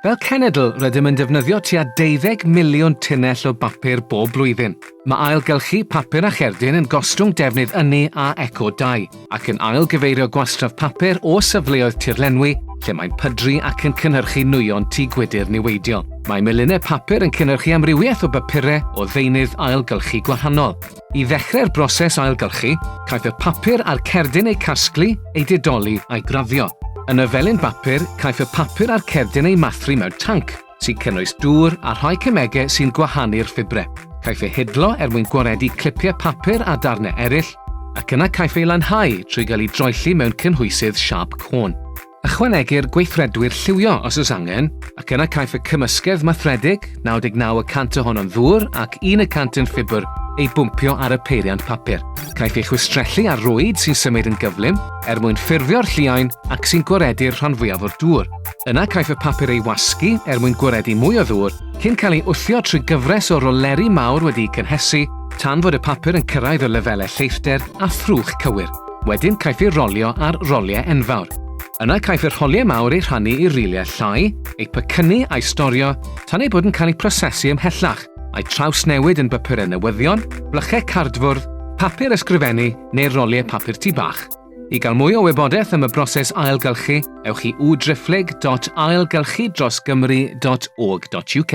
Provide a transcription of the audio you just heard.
Fel cenedl, rydym yn defnyddio tua deuddeg miliwn tunnell o bapur bob blwyddyn. Mae ailgylchu papur a cherdyn yn gostwng defnydd ynni a eco-dai, ac yn ail-gyfeirio gwastraff papur o safleoedd tirlenwi lle mae'n pydru ac yn cynhyrchu nwyon tŷ gwydr niweidiol. Mae milinau papur yn cynhyrchu amrywiaeth o bapurau o ddeunydd ailgylchu gwahanol. I ddechrau'r broses ailgylchu, caiff y papur a'r cerdyn eu casglu, eu didoli a'i graddio. Yn y felin bapur, caiff y papur a'r cerdyn eu mathru mewn tanc, sy'n cynnwys dŵr a rhai cemegau sy'n gwahanu'r ffibrau. Caiff ei hidlo er mwyn gwaredu clipiau papur a darnau eraill, ac yna caiff ei lanhau trwy gael ei droelli mewn cynhwysydd siâp côn. Ychwanegir gweithredwyr lliwio os oes angen, ac yna caiff y cymysgedd mathredig, 99 y cant ohono'n ddŵr ac un y cant yn ffibr, ei bwmpio ar y peiriant papur. Caiff ei chwistrellu ar rwyd sy'n symud yn gyflym er mwyn ffurfio'r lliain ac sy'n gwaredu'r rhan fwyaf o'r dŵr. Yna caiff y papur ei wasgu er mwyn gwaredu mwy o ddŵr cyn cael ei wthio trwy gyfres o roleri mawr wedi'u cynhesu tan fod y papur yn cyrraedd y lefelau lleithder a thrwch cywir. Wedyn caiff ei rolio ar roliau enfawr. Yna caiff y rholiau mawr eu rhannu i riliau llai, eu pecynnu a'u storio tan eu bod yn cael eu prosesu ymhellach, a'u trawsnewid yn bapurau newyddion, blychau cardfwrdd, papur ysgrifennu neu'r roliau papur tŷ bach. I gael mwy o wybodaeth am y broses ailgylchu, ewch i www.ailgylchudrosgymru.org.uk.